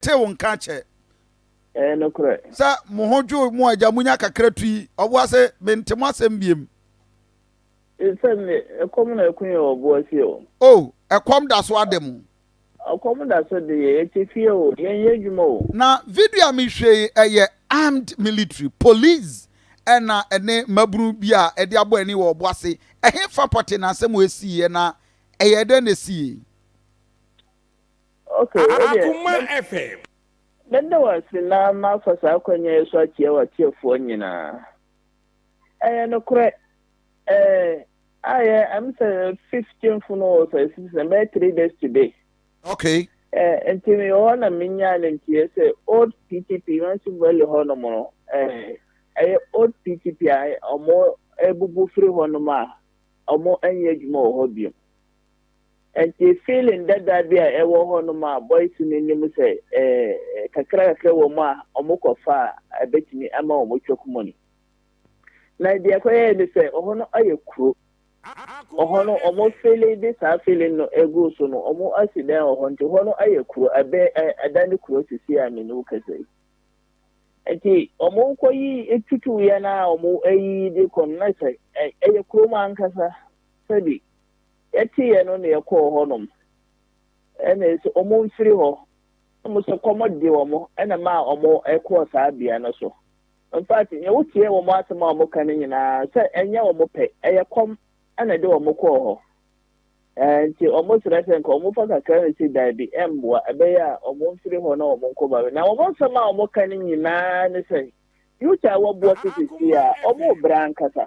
tew nka kyɛ. Ɛyɛ nokorɛ. Sɛ mo ho dwo mo a, gya mo nya kakra tu yi. Ɔboa se, Mente mo asɛm biem. Sɛ me, ɛkɔm na ɛko yɛn wɔ ɔboa fie o. O, ɛkɔm da so ade mo. Ɔkɔm da so de yɛn, yɛte fie o, yɛnyɛ adwuma o. Na video a mehwɛ yi, ɛyɛ armed military, police, ɛna ɛne mmabunu bi a ɛde abɔ ani wɔ ɔboa se, ɛhefa pɔte na asɛm wei siiɛ na ɛyɛɛ dɛn na ɛsiiɛ? Aguma FM. Meda wo ase na mafa saa akwanya yi so akyia w'atiefoɔ nyinaa. Ɛyɛ nokorɛ, eh, ayɛ, I'm sɛ fifteenth no wɔ sɛ sisi na bɛyɛ three days today. Okay. Eh, nti meyɛ hɔ na menyaa no nti yɛ sɛ old PTP, Mansi Valley hɔ nom no, eh, ɛyɛ old PTP a ɔmo abubu firi hɔ nom a ɔmo ɛnyɛ adwuma wɔ hɔ biom. Ɛnti feeling dada bi a ɛwɔ hɔ nom a boys no nim sɛ kakra kakra wɔ mu a wɔn kɔ fa a ɛbɛtumi ama wɔn choke money. Na deɛ ɛkɔ yɛɛ ne sɛ ɔhɔ no ayɛ kuro. Ɔhɔ no wɔn feeling de saa feeling no ɛgu so no wɔn asi dan wɔ hɔ nti hɔ no ayɛ kuro ɛbɛ ɛda ne kuro sisi a me ne wo kasa yi. Ɛnti wɔn kɔ yi tutu yɛ na wɔn ɛyi de kɔ no na sɛ ɛyɛ kuro mu ankasa sɛbi Yɛteeɛ no na yɛkɔɔ hɔnom. Ɛnna yɛse, Wɔmfiri hɔ. Na wɔse, Kɔm dee wɔn, na ɛmaa wɔkɔɔ saa bea no so. In fact, nea woteɛ wɔn asɛm a wɔka no nyinaa, sɛ ɛnyɛ wɔn pɛ, ɛyɛ kɔm na ɛde wɔn kɔɔ hɔ. Enti wɔsrɛ sɛ nka wɔmfa kakra no si dabi mmoa, ɛbɛyɛ a wɔmfiri hɔ na wɔnkɔ Babilon. Na wɔn nsɛm a wɔka no nyinaa ne sɛ, Yuda a wɔboa so seesei a, wɔrebrɛ ankasa.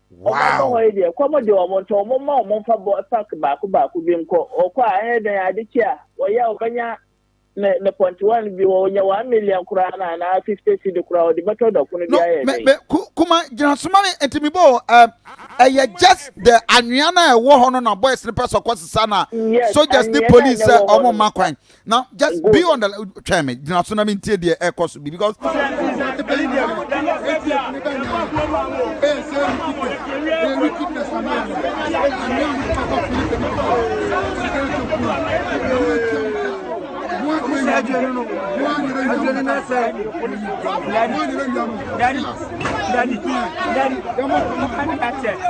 Wow! Ɔmo yi deɛ kɔm de ɔmo nti ɔmo ma ɔmo nfa bɔ sack baako baako bi nkɔ ɔkɔ a ɛyɛ dɛn ade kye a ɔyɛ a ɔbɛnya ne ne pɔntewa no bi wɔ ɔnya one million koraa na anaa fifty cedi koraa ɔde bɛtɔ dɔko no bi no ayɛ me dɛn. me ku kuma gyina soma me nti mebɔ o ɛm ɛyɛ just the anwea no a ɛwɔ hɔ no na boys no pɛ sɛ ɔkɔ sesa na Yes, soldiers ne anwea no a police na sɛ ɛwɔ hɔ ɔmo no. mma kwan Now, just be on the try me. Gyina so na me ntie deɛ ɛkɔ so bi because. Daddy, daddy, daddy, daddy,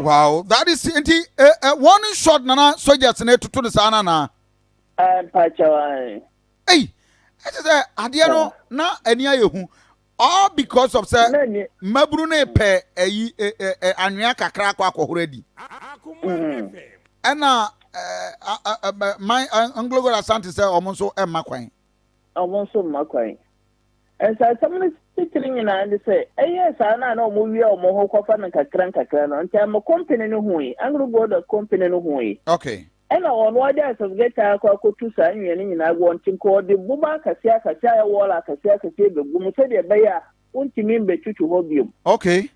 wow that is nti eh, eh, eh, one shot nana soldiers na etutu ne saa nana. Ah, mpakyɛw ɛyi ɛkyɛ sɛ adeɛ no na ani ayɛ hu all because of sɛ mmabunu ne pɛ ɛyi ɛ ɛ ɛ anwea kakra akɔ akɔhoro adi mm-hmm. ɛna ɛɛ man nglogo asante sɛ wɔn nso ɛmma kwan. na wɔn nso mma kwan. Nsansam no titire nyinaa ne sɛ, ɛyɛɛ saa no a na wɔwia wɔn ho kɔfa no nkakrankakra no, Ntamu Kompene no hui, Anglo Gold Kompene no hui. Okay. Ɛna wɔn ara de Asasgɛ taa akɔ akɔtu saa nnua no nyinaa gu wɔn nkyɛn, nka wɔde boba akɛseakɛse a ɛyɛ wɔɔla akɛseakɛse bɛgu mu sɛdeɛ ɛbɛyɛ a wontumi mbɛtwitwi hɔ biom. Okay.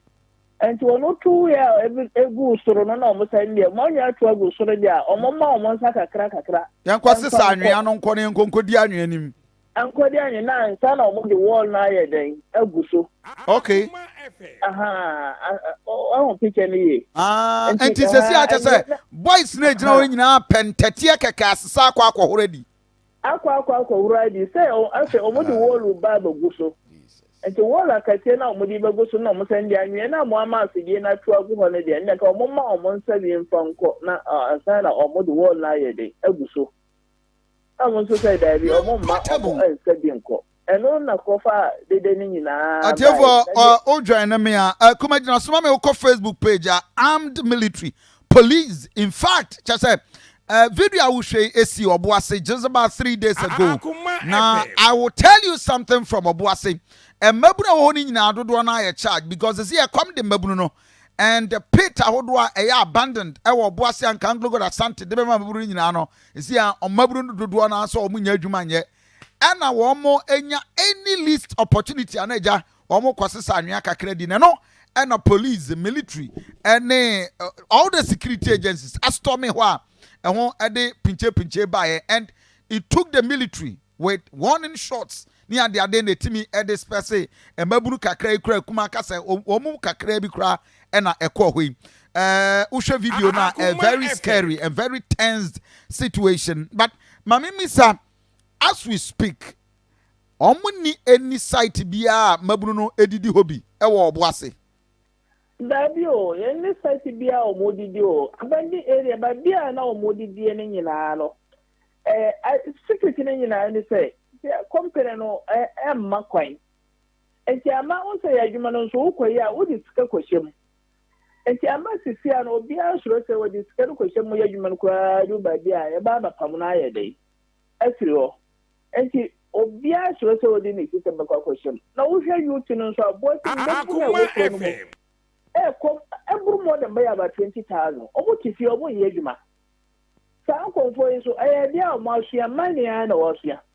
Nti ɔno tow yɛ a ebi eguu soro no na ɔmo san deɛ ɔmo anwea to agu soro deɛ a ɔmo mma ɔmo nsa kakra kakra. Yɛn kɔ sesa anwea no nkɔ na yɛn nkɔ nkɔdi anwea nim. Nkɔdi anwea na ansa na ɔmo de wall no ayɛ dɛn agu so. Okay. Wahu picture no yie. Ah, nti sɛsi akyɛ sɛ boys no egyina hɔ nyinaa pɛ ntɛteɛ kɛkɛ asesa akɔ akɔhoro adi. akɔ akɔ akɔ hura bi sɛ afei wɔn de wɔɔl ba abɛgu so nti wɔɔl akatie na wɔn de bɛgu so na wɔn sɛn de anwia na wɔn ama afidie na ato agu hɔ no deɛ ɛnna ka wɔn ma wɔn nsa wie nfa nkɔ na ansa na wɔn de wɔɔl na ayɛ den agu so na wɔn nso sɛ daabi wɔn mma wɔn nsa bi nkɔ. Ɛno na kɔfa dede no nyinaa bae. Ɔtiefo ɔ o dwɛn no me a. Ɛ kuma gyina soma me wokɔ Facebook page a armed military police in fact kyɛ sɛ ɛ video a wohwɛ yi esi ɔbo ase just about three days ago na I will tell you something from ɔbo ase ɛ mmabunu a ɛwɔ hɔ no nyinaa dodoɔ no ayɛ charge because esi ɛkɔm de mmabunu no and the pit ahodoɔ a ɛyɛ abandoned ɛwɔ ɔbo ase anka Anglogod Asante de bɛma mmabunu no nyinaa no esi a mmabunu no dodoɔ no ara sɛ wɔn nyɛ adwuma nyɛ ɛna wɔn nya any least opportunity ana agya wɔn kɔ sesa anwea kakra di na ɛno ɛna police military ɛne all the security agencies astorming hɔ a ɛho ɛde pinche pinche baeɛ and it took the military with warning shots ne adeade na ɛtumi ɛde spɛse mmabunu kakra yi kura kuma kasa wɔn mu kakra bi koraa ɛna ɛkɔɔ hɔ yi ɛɛ wohwɛ video no a very scary and very tensed situation but maame misa as we speak wɔn ni any site biara a mabunu no edidi hɔ bi ɛwɔ ɔbo ase. Daabi o, yɛn ne site biara a wɔn didi o, abandon area baabi a na wɔn didie no nyinaa no ɛɛ secret no nyinaa ne sɛ company no ɛɛ ɛmma kwan. Enti ɛmma wo sɛ yɛ adwuma no nso wokɔyɛ a wode sika kɔhyɛ mu. Enti ɛmma sisia no obiara nsuro sɛ wɔde sika no kɔhyɛ mu yɛ adwuma no koraa duru baabi a ɛba abɛpam no ayɛ dɛn afiri hɔ. Enti obiara suro sɛ ɔde ne sika bɛkɔ akɔhyɛ mu. Na wohwɛ UT no nso a boase mu bɛfo no a ɛwɔ kuro no mu no ɛkɔ ɛboro more than bɛyɛ about twenty thousand. Wɔn te fie wɔn nyɛ adwuma. Saa nkɔmfoɔ yi nso ɛyɛ adeɛ a wɔn asua mining ara na wɔasua.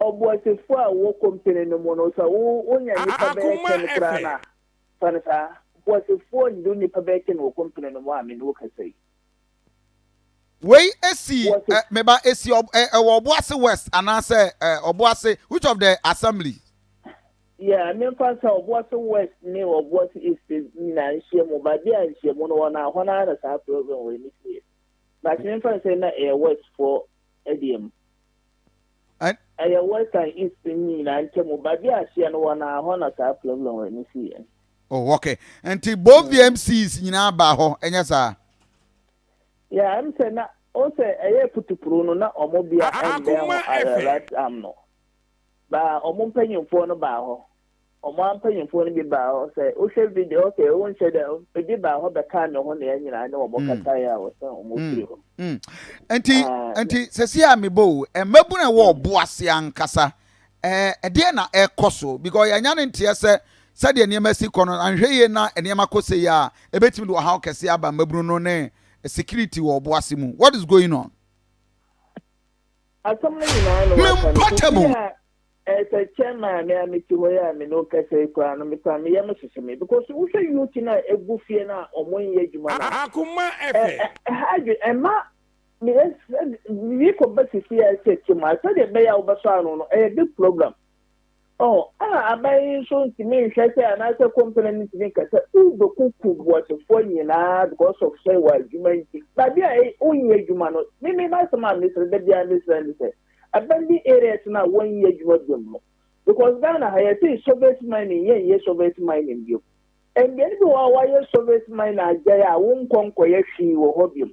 Ɔboasefoɔ a ɔwɔ kɔmpene no mu no, sɛ wonya nnipa bɛyɛ ten koraa no a, fa no saa. Boasefoɔ nnuru nnipa bɛyɛ ten wɔ kɔmpene no mu a me ne wo kasa yi. Wei si eh, me ba, esi ɔ, eh, ɛwɔ Ɔboase West anaasɛ eh, Ɔboase, which of the assembly? Yeah, memfa nsa Ɔboase West ne Ɔboase East nyinaa nhyia mu, ba bi a nhyiamu no hɔ no a, hɔ no ara na saa program wei no si yɛ. But memfa nsa na ɛyɛ West foɔ ɛdeɛ mu. Ɛn. Ɛyɛ West and East no nyinaa ntamu baabi a hyeɛ no wɔ no ara, hɔ na saa Cleveland no siiɛ no. Oh, ok. Nti both the MCs nyinaa baa hɔ, ɛnyɛ saa? Yeah, ɛm sɛ na, wohu sɛ ɛyɛɛ putupuruu no na wɔn bea ɛmbɛn hɔ ara, right, am no. Baa wɔn mpanyinfoɔ no baa hɔ. Ɔmo ara mpanyinfoɔ no bi baa hɔ sɛ wohwɛ video ok wonhyɛ da ebi baa hɔ bɛkaa me ho na yɛn nyinaa ne wɔn kasaeɛ a wɔsan wɔn firi hɔ. Nti nti sɛsi a mebɔ o mmabunu ɛwɔ ɔbo ase ankasa ɛdeɛ na ɛkɔ so because yɛanya ne nteɛ sɛ sɛdeɛ nneɛma si kɔ no anhwɛ yie na nneɛma kɔ sɛ yie a ɛbɛtumi de ɔhaw kɛse aba mmabunu no ne security wɔ ɔbo ase mu what is going on? Asɛm no nyinaa no wɔaka no sisi a Sɛkyɛ me a me a mete hɔ yi a me ne wo kasa yi koraa no me koraa me yam hyehye me because wo hwɛ youth no a egu fie no a ɔmo nyɛ adwuma no a. Akoma ɛfɛ. Ɛha adwene ɛma me yɛ sɛ me kɔ ba sisi yɛ sɛ tim a sɛdeɛ ɛbɛyɛ a wo bɛ sɔ ano no ɛyɛ big problem ɔho ɛna aban yi nso ntumi nhwɛ sɛ anaasɛ company no ntumi nka sɛ wo bɛ kuku boasefoɔ nyinaa because of sɛ wɔ adwuma nti badeɛ a wo nyɛ adwuma no me me ma asɛm a mesrɛ da biara mesrɛ ne sɛ abandoned areas no a wɔnyɛ adwuma biom no because Ghana ha yɛsee soviet mining yɛnyɛ soviet mining biom. Mbeae bi wɔ hɔ a wɔayɛ soviet mining agyae a wonkɔ nkɔyɛ hwee wɔ hɔ biom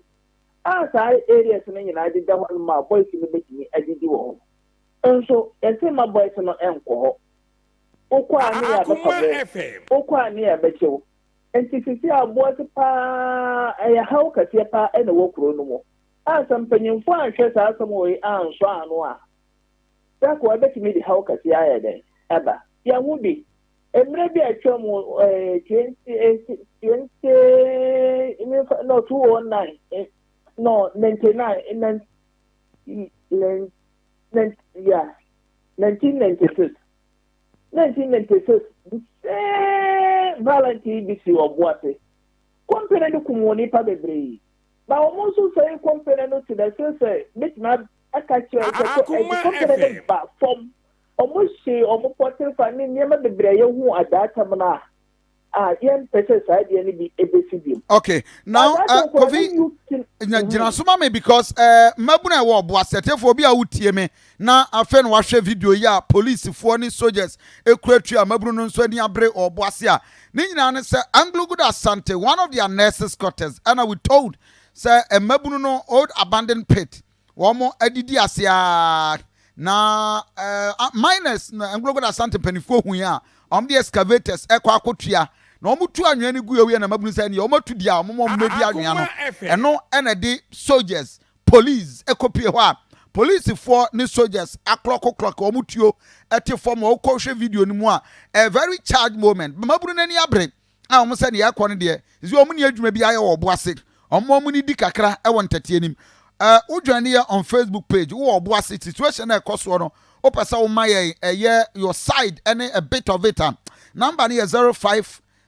a saa areas no nyinaa deda hɔ nom a boys no bɛtumi adidi wɔ hɔ nso yɛse mma boys no nkɔ hɔ wokɔ a ne yɛ abɛfa mo wokɔ a ne yɛ abɛkyɛ wo nti sisi aboase paa ɛyɛ haw kɛseɛ paa ɛna ɛwɔ kuro no mu. A Sɛ mpanyimfo anhwɛ saa asɛm wei yi ansɔ ano a, prako a ebetumi de haw kɛse ayɛ dɛn aba? Yɛn mu bi, mmere bi a atwam no, 2009 no, 99 yeah, 1996, 1996 the same violent yi bi sii ɔbo ase. Kɔmpene no kum onipa bebree. Na wɔn nso sɛe kɔmpene no te dɛ sɛsɛ mɛtumi aka kyerɛ sɛ kɔ ɛdi kɔmpene no ba fɔm ɔmo hye ɔmo pɔter fa ne nneɛma bebree a yɛhuu adaa tam no a a yɛn pɛ sɛ saa deɛ no bi ɛbɛsi biom. ok now uh, kofi gyina so ma me because uh, mmabunu a ɛwɔ ɔboa sɛtefoɔ bi a wotie me na afei na wahwɛ video yi a polisifoɔ ne soldiers kura tua mmabunu no nso ani abere wɔ ɔbo ase a ne nyinaa ne sɛ Anglo-Good Asante, one of their nurses quarters ɛna we told sɛ mmabunu no old abandoned pit wɔn adidi ase ara na uh, miners na Anglo-Good Asante mpanimfoɔ hui a wɔn de excavators ɛkɔ akotua na wɔn tu anwea no gu yɛ na mmabunu sɛ ɛneɛ wɔn atu di a wɔn wɔn mmedi anwea no ɛno ɛna de soldiers police ɛkɔpie hɔ a policefoɔ ne soldiers aklɔkoklɔk wɔn tuo ɛte fam a wokɔhwɛ video no mu a a very charged moment bamabunu n'ani abere a wɔn sɛ ne yɛkɔ no deɛ zi wɔn ni adwuma bi ayɛ wɔ ɔbo ase wɔn wɔn ni di kakra ɛwɔ ntɛteɛ nim ɛɛ wodwane yɛ on facebook page wɔ ɔbo ase situation a ɛkɔ soɔ no wopɛ sɛ woma yɛn ɛyɛ your side ɛne a bit of it a number no yɛ zero five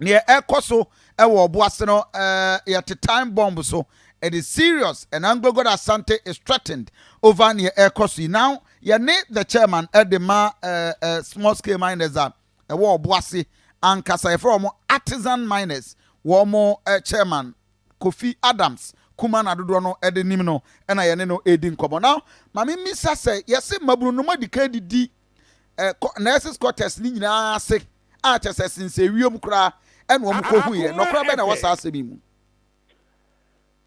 neɛ ɛkɔ so wɔ ɔbo ase no yɛte time bomb so it is serious and Anglo Gold Asante is threatened over neɛ ɛkɔ so yi now yɛne the chairman ɛde ma small scale miners a ɛwɔ ɔbo ase ankasa yɛfrɛ wɔn artisan miners wɔn chairman Kofi Adams kuma na dodoɔ no ɛde nim no ɛna yɛne no ɛdi nkɔmɔ now maame mmisa sɛ yɛse mmabunu no mo adikan didi nurses quarters ne nyinaa ase a kyerɛ sɛ ɛsensɛn wiem koraa na wɔkohuiɛ. Nɔkora bɛn na ɛwɔ saa asɛm yi mu?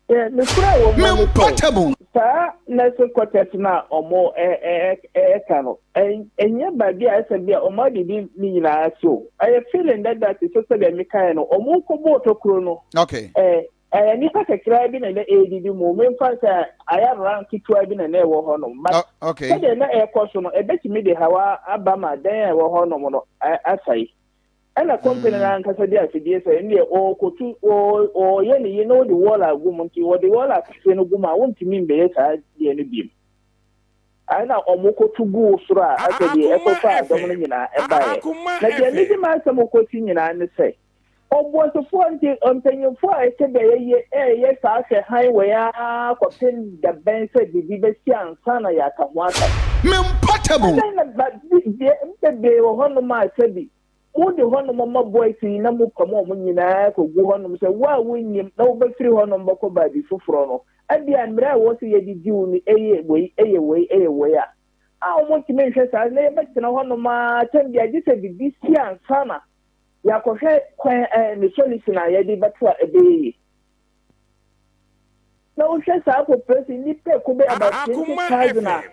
Mempatam o. Saa nursing quarters no a wɔka no, ɛnyɛ baabi a ɛsɛ bi a wɔadidi ne nyinaa ase o. Ɛyɛ feeling dada te sɛ sɛdeɛ mekaeɛ no, wɔkɔbɔɔ tokuro no. ɛyɛ nipa kakraa bi na na ɛredidi mu memfa sɛ ayɛ ran ketewa bi na na ɛwɔ hɔ nom but sɛdeɛ na ɛrekɔ so no ɛbɛtumi de hawa aba ma dan a ɛwɔ hɔ nom no asɛe ɛna kɔmpani no ankasa de asedie sɛ ɛndeɛ ɔrekɔtu ɔreyɛ ne yi na ɔde wɔl agu mu nti ɔde wɔl akɛseɛ no gu mu a wontumi mbɛyɛ saa deɛ no biom ɛna ɔmokɔtu gu soro a asɛ deɛ ɛkɔfa adɔm no nyinaa ɛbaeɛ na deɛ mede m'asɛm kɔsi nyinaa ne sɛ Obuasufoɔ nti, mpanimfoɔ a ɛte dɛɛ yi reyɛ saa hwɛ hann wɔ yɛn ara kɔpem da bɛn sɛ biribi bɛsi ansa na yɛaka ho asɛm. Me mpa tabu. Adɛn na ba, bi, deɛ bebree wɔ hɔnom a sɛbi mode hɔnom mma boys yi na mopam wɔn nyinaa kɔgu hɔnom sɛ wo a wonnim na wobɛfiri hɔnom bɛkɔ baabi foforɔ no, ɛbia mmerɛ a ɛwɔ sɛ yɛde di wo no ɛyɛ wei, ɛyɛ wei, ɛyɛ wei a, a wɔntumi nhwɛ saa na yɛbɛtena hɔnom ara atɛm biara gye sɛ biribi si ansa na. Yɛakɔhwɛ kwan a ɛne solution a yɛde bɛto a ɛbɛyɛ yie. Na wohwɛ saa population nnipa ɛko bɛyɛ about twenty thousand a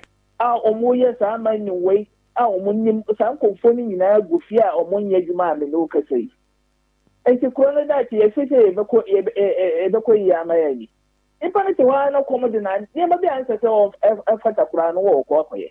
a wɔn yɛ saa aman nim wei a wɔn nim saa nkɔmfoɔ no nyinaa gu fie a wɔn nyɛ adwuma a mene wo kasa yi. Nti kuro no daakye yɛhwɛ sɛ yɛbɛkɔ yɛbɛkɔ yie ama yɛ ani. Nipa no te hɔ ara na kɔm de na nneɛma bi a nsɛ sɛ ɛfata koraa no wɔkɔ akɔyɛ.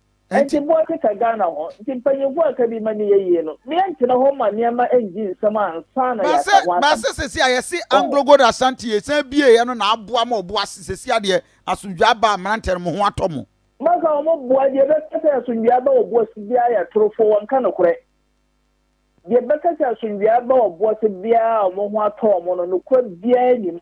Ɛnti boa keka Ghana ho. Nti mpanyinfoɔ a ɛkabi ma neyɛ yie no me ɛntena hɔ ma neɛma ɛngyi nsɛm ansa na yɛaka ho asɛm. Bɛse sɛsi a yɛse Anglo Gold Ashanti yɛsan bieɛ no na aboa ma ɔbo ase sɛsi a deɛ asomdwie aba a mmeranteɛ no moho atɔ mo. Maka wɔn boa deɛ bɛka sɛ asomdwie aba ɔbo ase biara yɛ atorofoɔ wɔnka nokorɛ deɛ bɛka sɛ asomdwie aba ɔbo ase biara a wɔn ho atɔ wɔn no nokorɛ biara nnim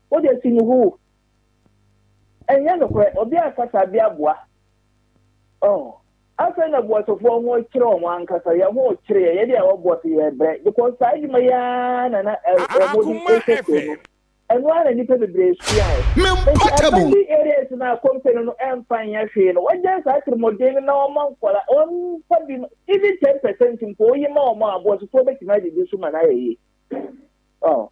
Wo de si no hoo. Ɛnyɛ nokorɛ, obi ankasa de aboa. Oh, afei na boasefoɔ ho kyere wɔn ankasa, yɛn ho rekyere yɛn, yɛn deɛ yɛwɔ boase, yɛrebrɛ, because saa adwuma yi ara na na wɔn de rehwɛ kuro no. Ɛno ara na nnipa bebree suaeɛ. Enti abandoned areas no a company no mfa nyɛ hwee no, wɔagyae saa atirimuɔden no na wɔma nkwadaa, wɔmfa bi, even ten percent mpo, woyi ma wɔn a, boasefoɔ bɛtumi adidi so ma no ayɛ yie. Oh.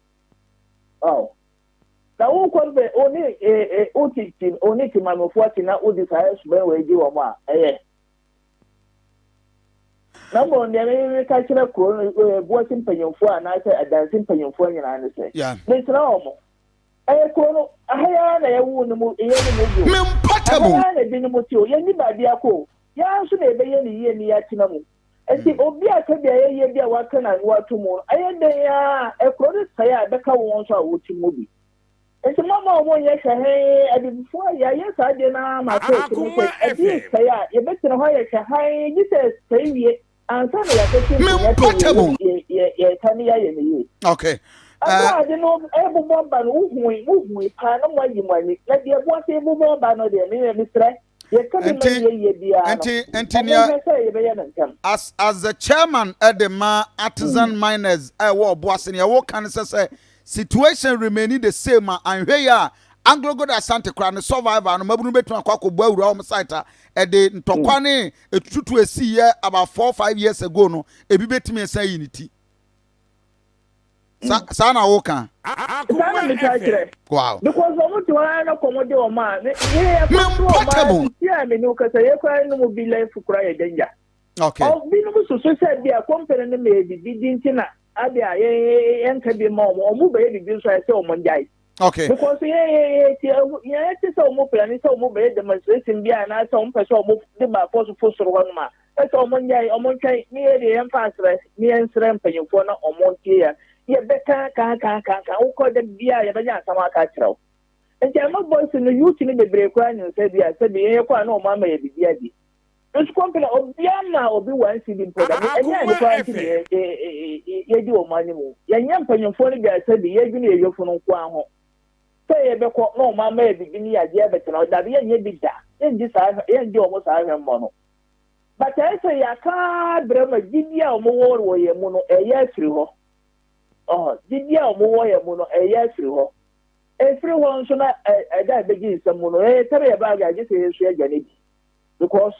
Wow. Na wo kɔ bɛ o ne e e o ti ti o ne ti maame fo ati na o di saa ɛsubɛn wɔ egye wɔn a ɛyɛ. Na mbɔ nea mi mi ka kyerɛ kuro no e e buasi mpanyinfo a na sɛ adansi mpanyinfo nyinaa ne sɛ. Yeah. Mi sra wɔn. Ɛyɛ kuro no aha yɛ ara na yɛ wu ne mu yɛ ne mu bio. Me mpa tabu. Aha yɛ ara na ebi ne mu ti o yɛ ni baabi akɔ o yɛ ara nso na yɛ bɛ yɛ ne yie ne yɛ atena mu. Ɛsi obi a ka beaeɛ yie bi a waka n'ano ato mu no, ɛyɛ dɛn ara kuro no sɛe a ɛbɛka wɔn nso a wɔte mu bi. Nti momma wɔn nyɛ hwɛhann, abibifoɔ a yɛayɛ saa adeɛ no ara ma atɔ asu no sɛ ɛdeɛ resɛe a yɛbɛtena hɔ ayɛ hwɛhann gye sɛ ɛsɛe wie ansa na yɛakɔhye nkonnwa sɛ yɛreka ne yɛayɛ ne yie. Okay. Ɛberɛ a ade no ɛrebobɔ ba no, wohui, mohui paa na moayi mo ani. Na deɛ ɛboa sɛ ɛbobɔ ba no deɛ, me mesrɛ, as as the chairman ɛde ma artisan miners a ɛwɔ ɔbo ase nea ɛwɔ kan sɛ sɛ situation remaining the same a anhwɛ yi a anglogo de asante kora ne survivor no mabunu betumi akɔ akɔbɔ awura wɔn site a ɛde ntɔkwa ne etututu esi yɛ about four five years ago no ebi betumi ɛsan yi ne ti. saa na woka saa na metaa kyerɛ wow because wɔn to ara na kɔn de wɔn a ne ne yɛ kɔ so wɔn a sisi a me ne o kasa yɛ kora ne mu bi life kora yɛ danger okay ɔbinom soso sɛ bi a kɔmpani no ma yɛ bibi di nti na ade a yɛ yɛ nka bi ma wɔn wɔn bɛyɛ bibi nso ayɛ sɛ wɔn ngyae okay because yɛ yɛ yɛ ti yɛ yɛ ti sɛ wɔn pilani sɛ wɔn bɛyɛ demonstration bi a na sɛ wɔn pɛ sɛ wɔn de ba afɔ so fo soro hɔ nom a Ɔsɛ sɛ ɔmo nyɛe, ɔmo ntwɛn, ne yɛ deɛ yɛmfa nsrɛ, ne yɛnsrɛ mpanyinfoɔ na ɔmo ntie yɛn. Yɛbɛka aka aka aka aka, wokɔ da biaa yɛbɛnya asɛm aka akyerɛ wo. Nti ɛma Boston no youth no bebree koraa nim sɛ bi a sɛbi yɛn yɛkɔ a na ɔmo ama yɛ biribi adi. Nso kɔmpena obia mmaa obi one cedi mpo da, ne ɛnyɛ ade koraa nti na yɛdi ɔmo anim o. Yɛnyɛ mpanyinfoɔ no bi a sɛbi yɛdwene yɛn yɔfunu nkoaa ho, sɛ yɛbɛkɔ na ɔmo ama yɛ biribi ne yɛagye abɛtena hɔ, dabi yɛnyɛ bi da, yɛngye saa yɛngye ɔmo saa hwɛmmɔ no. But ɛyɛ sɛ yɛaka abrɛ ma gyidie a wɔn wɔ wɔ yɛn mu no ɛyɛ afiri hɔ. Ɔhɔ, gyidie a wɔn wɔ yɛn mu no ɛyɛ afiri hɔ. Ɛfiri hɔ nso na ɛ, ɛda a ɛbɛgye nsɛm mu no, ɛyɛ tɛrɛ yɛ baage a gye sɛ yɛn nso yɛgya no adi. Because,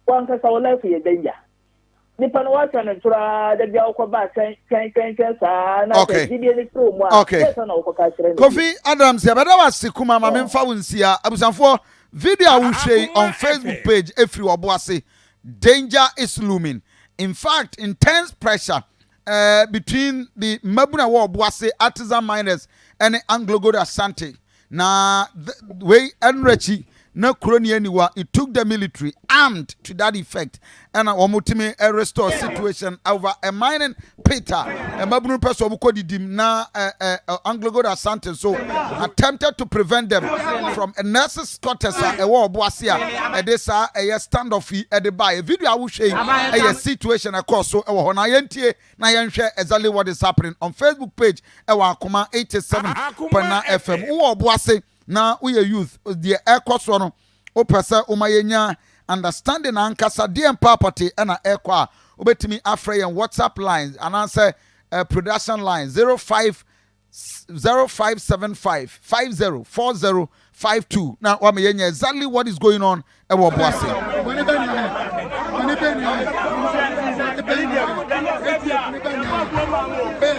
w'ankasa wo life yɛ danger. Nipa no w'atwɛn no ntoraa, da bi a wokɔ baa twɛn, twɛn, twɛn, twɛn saa, na Okay. sɛ gyidie no firi wɔn mu a, Okay. dɛn sɛ na wokɔ ka kyerɛ no bi? Kofi Adams, yɛbɛda wo ase kuma ma memfa wo nsia. Abusuafoɔ, Video a wohwɛ yi on Facebook page ɛfiri ɔbo ase Danger is looming, in fact intense pressure eh, between the mmabunu a ɛwɔ ɔbo ase artisan miners ne Anglogold Ashanti na wei ɛnora akyi na kuro ni aniwa it took the military armed to that effect Ɛna wɔn tumi restore situation over a mining pit a mmabunu pɛ sɛ wɔn kɔ didim na Anglogold Asante nso attempted to prevent them from a nurses quarters a ɛwɔ ɔbo ase a ɛde saa ɛyɛ standoff yi ɛde baeɛ. Video a wohwɛ yi ɛyɛ situation a ɛkɔɔ so ɛwɔ hɔ na yɛntie na yɛnhwɛ exactly what is happening on Facebook page ɛwɔ Akoma 87.9 FM. Wowɔ ɔbo ase na woyɛ youth deɛ ɛkɔ soɔ no Wopɛ sɛ woma yɛnya understanding ankasa deɛ mpaa pɔte na ɛkɔ a, wobɛtumi afrɛ yɛn WhatsApp line anaasɛ production line 05 0575 50 40 52 na wama yɛnya exactly what is going on ɛwɔ bo ase.